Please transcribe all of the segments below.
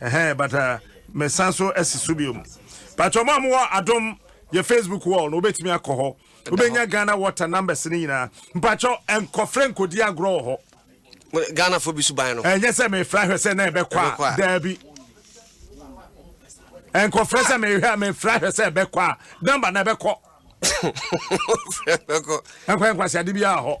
Ɛhɛn but uh, me san so asi so biom. Patro mo a mo wɔ adom yɛ Facebook wall no wobɛtumi akɔ hɔ. Wobɛnya Ghana water numbers no nyinaa. Mpatro nkɔfrɛ nkɔdi agorɔ wɔ hɔ. Ghana fo bi so ban no. Ɛnyɛ sɛ mefrɛ ahwɛ sɛ na ɛbɛkɔ a daabi. Nkɔfrɛ sɛ mehwɛ a mefrɛ ahwɛ sɛ ɛbɛkɔ a number na ɛbɛkɔ. Nkɔ nkwasiade biara hɔ.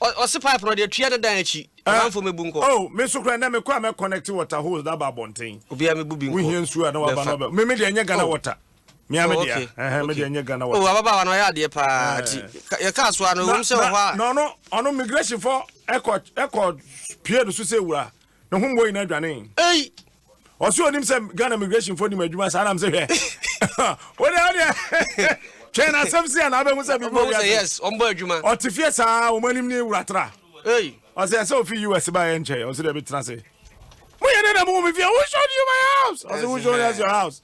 Ɔse pipe no deɛ tua ne dan akyi amanfo eh, mebu nkɔ. Oh, me nso kora ndɛ mekɔ a mɛ connect water hose na ba abɔnten. Obia mebu bi nkɔ. Wohia nsuo a na waba na ɔbɛ. Me me deɛ nyɛ Ghana oh. water. Me ame deɛ. Ɛhɛn me deɛ nyɛ Ghana oh, water. Oh, ababaawa na ɔyɛ adeɛ paa eh. ti. Yɛ kaa so ano wɔm sɛ ɔhɔ a. Na ɔno ɔno migration fɔ ɛkɔ ɛkɔ pie do so sɛ wura. Ne ho mbɔ nyinaa dwane. Ei. ɔsɛ onim sɛ ghana migration fo nim adwuma saa nam sɛ hwɛ wode wodeɛ twɛn asɛm si a na abɛhu sɛ biribi obi yes ɔmbɔ adwuma ɔte fie saa wɔn anim ne wuratra ɔsɛ ɛsɛ ofi us baeɛ nkyɛe ɔsɛ deɛ bɛtena se moyɛ dɛ na mohu me fie who showed you my house ɔsɛ who showed us your house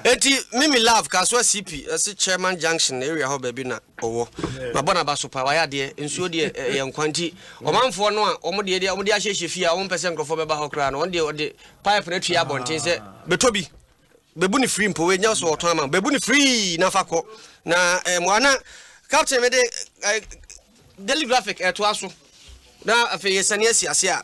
eti mimi love kasoa cp ɛsi chairman junction area hɔ baabi na ɔwɔ mabɔ n'aba so pa wayɛ adeɛ nsuo deɛ ɛyɛ nkwa nti ɔmanfoɔ no a wɔn deɛ deɛ wɔn de ahyehyɛ fie a wɔn mpɛ sɛ nkurɔfoɔ bɛba hɔ koraa no wɔn deɛ ɔde pipe no atua abɔnten sɛ bɛtɔ bi bɛbu ne firi mpo ɛnyɛ so ɔtɔn ama bɛbu ne firi na fa kɔ na mmoa na captain mede daily graphic ɛtoa so na afei yɛsane asi ase a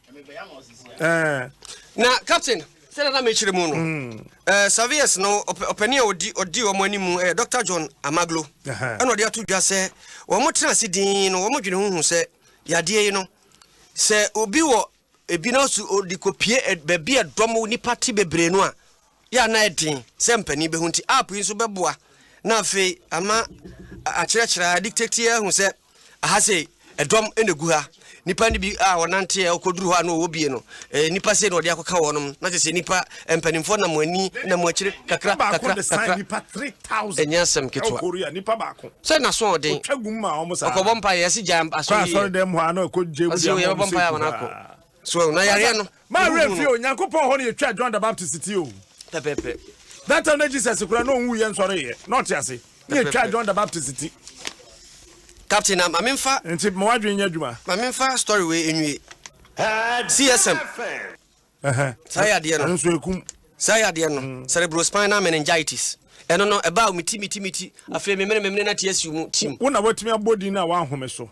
na captain sɛdeɛ na mekyerɛ mu no mm. eh, serviers no ɔpani a ɔdi ɔdi wɔn anim ɛyɛ eh, dr john amaglo ɛna ɔde ato dwa sɛ wɔn tena ase din no wɔn dwene ho hu sɛ yadeɛ yi no sɛ obi wɔ ebi na ɔsi ɔde kɔ pie eh, baabi a dɔm nipa te bebree no a yɛ a na ayɛ den sɛ mpanin bɛhu nti, app yi nso bɛboa na afei ama akyerɛkyerɛ a dictate ahu sɛ aha sei ɛdɔm na ɛgu ha nipa no bi a ɔnante a ɔkɔduru hɔ a na ɔwɔ bie no nipa sei na ɔde akɔka wɔn nom na kyerɛ sɛ nipa mpanimfoɔ nam ani nam akyire kakra kakra kakra ɛnyɛ asɛm ketewa sɛ naso ɔden ɔkɔbɔ mpa yɛ si gya asɔre yɛ ɔsi yɛ bɔ mpa yɛ wɔn akɔ So na yareɛ no. Maa werɛ mfii o, Nyankopɔn hɔ na yɛtwaa John the Baptist ti o. Pɛpɛpɛ. That time na Jesus koraa na ɔnwuiɛ nsɔreeɛ, na ɔte ase. Na yɛtwaa John the Baptist ti. Captain na ma menfa. Nti ma w'adwene nyɛ adwuma. Ma menfa story wei nwie. CSM. Saa yɛ adeɛ no. Ɛno nso ɛkum. Saa yɛ adeɛ no. Cerebrospinal meningitis. Ɛno no ɛbaa o, me ti, me ti, me ti. Afei memene, memene na tear siw mu, tim. Wo na watumi abɔ din no a w'ahome so.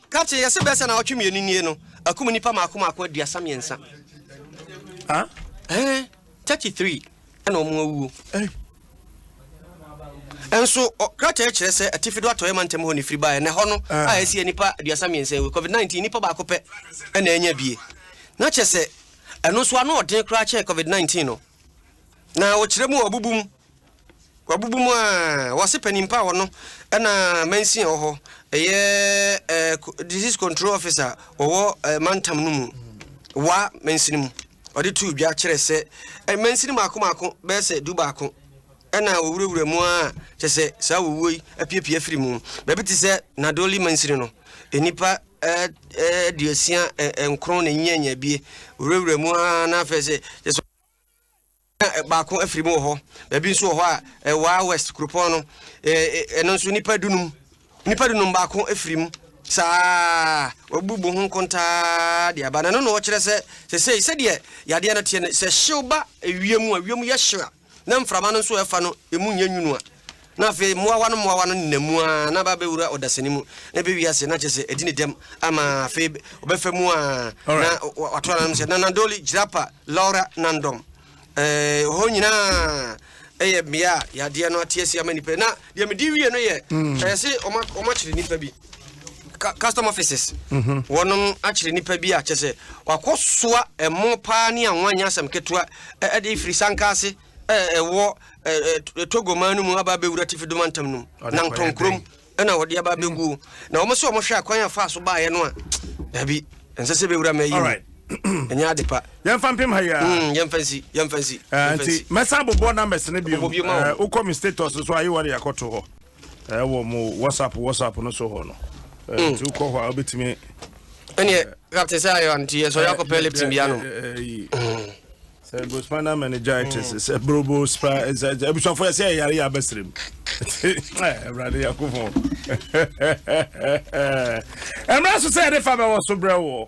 Captain, yɛse bɛɛ sɛ naawɔtwe mmienu nie no, akum nnipa maako maako aduasa mmiɛnsa. Ah? Eh, 33 ɛna wɔn awuo. Eh. Nso krataa kyerɛ sɛ atifi do atɔeɛ mantam hɔ ne firi baeɛ na ɛhɔ no ah. a ɛsi nnipa aduasa mmiɛnsa awu covid-19 nnipa baako pɛ ɛna ɛnya bie na kyɛ sɛ ɛno nso ano ɔden koraa kyɛn covid-19 no na wɔkyerɛ mu ɔbubu mu Wabubu mu a, wɔse panin pa wɔ no ɛna mansin wɔ hɔ ɛyɛ eh, disease control officer wɔwɔ eh, mantam no mu wa mansin mu ɔde too dwa kyerɛ sɛ eh, mansin maako maako bɛyɛ sɛ du baako ɛna wɔwurawura mu a kyɛ sɛ saa wɔwuo yi apiapia firi mu baabi te sɛ nadoli mansin no nnipa eh, eh, aduasia eh, eh, nkron na nyianyabie wɔwurawura mu a na afei sɛ Na baako afiri mu wɔ hɔ. Baabi nso wɔ hɔ a, ɛwaa West kuropɔn no. Ɛno nso nnipa dunum. Nnipa dunum baako afiri mu. Saa wabubu ho nkontaa de aba. Na ɛno na ɔkyerɛ sɛ sɛsɛi sɛdeɛ yadeɛ no teɛ no, sɛ hyew ba ewiem mu a, ewiem yɛ hyew a, na mframa no nso ɛfa no, emu nyɛ nwunu a. Na afei mmoawa no mmoawa no nenam mu ara na aba abɛwura ɔdasani mu, na ɛbɛwie ase, na kyerɛ sɛ, adi ne dɛm ama afei ɔbɛfa mu ara, na wato ananom sɛ, Nanandoli, Jirapa, Laura, Nandom. Ɛɛ, hɔ nyinaa yɛ mmea a yadeɛ no ate asi ama nnipa yi. Na deɛ medi wie no yɛ, mm. ɛyɛ se wɔakyere nnipa bi, custom offices, mhm. wɔnom akyere nnipa bi a kyɛ sɛ wakɔsoa ɛmo paa ne anwa nyɛ asɛm ketewa de firi sanka ase a ɛwɔ Togo man no mu aba abɛwura Atifi do mantam no mu, Nantong kurom na wɔde aba abɛguo. Hmm. Na wɔn sɛ wɔhwɛ akwan a faa so baeɛ no a, daabi, ɛnsɛ sɛ bɛwura ma ɛyɛ mu. ɛnyɛ ade pa yɛmfa mpem ha yia hmm, yɛmfa nsi yɛmfa nsi eh, nti mɛsan bobɔ numbers no bio eh, wokɔ me status so ayi wɔde akɔto hɔ eh, wɔ mo whatsapp whatsapp no so hɔ no hmm. nti wokɔ hɔ a wobɛtumi ɛneɛ captain sɛ ayɛ nti yɛsɔre akɔpɛ lipton bia no Cerebrospinal meningitis mm. cerebrospinal abusuafo yɛ sɛ ɛyare yɛ abɛsrɛ mu awurade yakofo ɛmmerɛ so sɛ yɛde fa bɛwɔ so berɛ woɔ